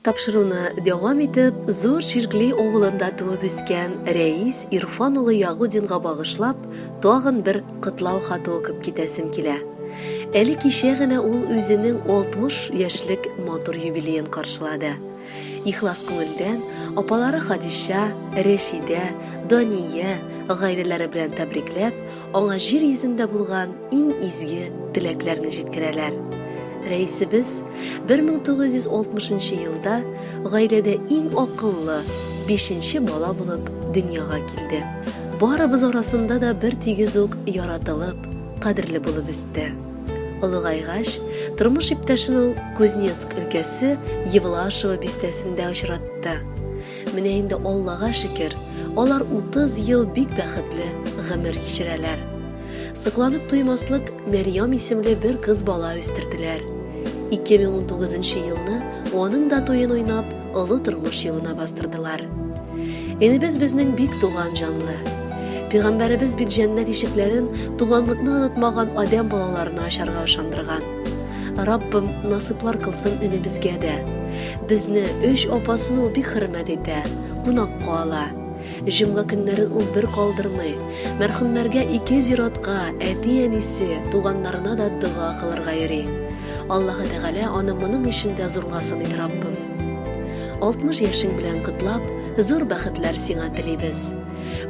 Тапшыруны дәвам итеп, Зур Чиркли авылында туып үскән Рәис Ирфан улы Ягудинга багышлап, тагын бер котлау хаты укып китәсем килә. Әле кичә генә ул үзенең 60 яшьлек матур юбилеен каршылады. Ихлас күңелдән апалары Хадича, Рәшидә, Дания гаиләләре белән тәбрикләп, аңа җир йөзендә булган иң изге теләкләрне җиткерәләр. Рәисебез 1960 елда гаиләдә иң акыллы бишенче бала булып дөньяга килде. Барыбыз арасында да бертигез үк яратылып, кадерле булып үсте. Олыгайгач, тормыш иптәшен ул Кузнецк өлкәсе Евлашево бистәсендә очратты. Менә инде Аллага шөкер, алар 30 ел бик бәхетле гомер кичерәләр. Сокланып туймаслык Мәрьям исемле бер кыз бала үстерделәр. 2019 елны аның да туен уйнап, олы тормыш юлына бастырдылар. Энебез безнең бик туган җанлы. Пәйгамбәребез бит җәннәт ишекләрен туганлыкны онытмаган адәм балаларына ачарга ышандырган. Раббым насыплар кылсын өне безгә дә. Безне өч апасын ул бик хөрмәт итә, кунакка ала. Җомга көннәрен ул бер калдырмый. Мәрхүмнәргә ике зиратка, әти-әнисе, туганнарына да дога кылырга йөри. Аллаһы Тәгалә аны моның өчен дә зурга сыный Раббым. 60 яшең белән котлап, зур бәхетләр сиңа телибез.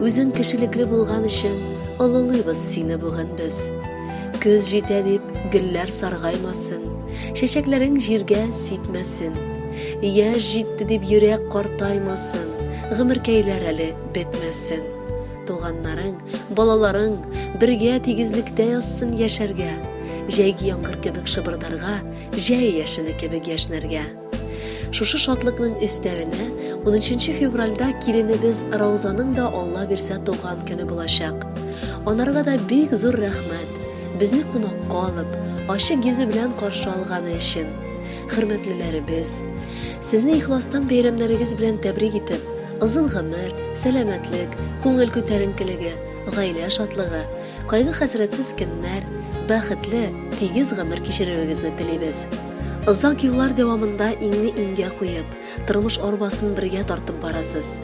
Үзең кешелекле булган өчен олылыйбыз сине бүген без. Көз җитә дип, гөлләр саргаймасын, Чәчәкләрең җиргә сипмәсен. Яшь җитте дип, йөрәк картаймасын, Гомеркәйләр әле бетмәсен. Туганнарың, балаларың бергә тигезлектә язсын яшәргә, Җәйге яңгыр кебек шыбырдарга, Җәй яшене кебек яшьнәргә. Шушы шатлыкның өстәвенә, 13 февральдә киленебез Раузаның да Алла бирсә туган көне булачак. Анарга да бик зур рәхмәт, безне кунакка алып, ачык йөзе белән каршы алганы өчен. Хөрмәтлеләребез, сезне ихластан бәйрәмнәрегез белән тәбрик итеп, озын гомер, сәламәтлек, күңел күтәренкелеге, гаилә шатлыгы, кайгы-хәсрәтсез көннәр, бәхетле, тигез гомер кичерүегезне телибез. Озак еллар дәвамында иңне иңгә куеп, тормыш арбасын бергә тартып барасыз.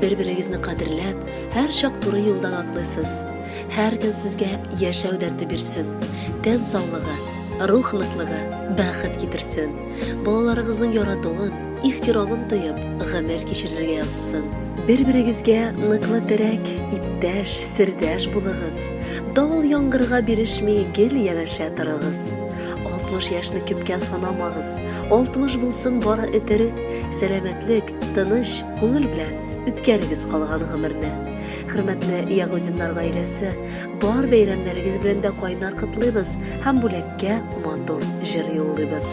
Бер-берегезне кадерләп, һәр чак туры юлдан атлыйсыз. Һәр көн сезгә яшәү дәрте бирсен, тән саулыгы, рух ныклыгы, бәхет китерсен. Балаларыгызның яратуын, ихтирамын тоеп, гомер кичерергә язсын. Бер-берегезгә ныклы терәк, иптәш, сердәш булыгыз. Давыл-яңгырга бирешми, гел янәшә торыгыз. 60 яшьне кепкә санамагыз. 60 булсын бары этере, сәламәтлек, тыныч, күңел белән үткәрегез калган гомерне. Хөрмәтле Ягудиннар гаиләсе, бар бәйрәмнәрегез белән дә кайнар котлыйбыз һәм бүләккә матур җыр юллыйбыз.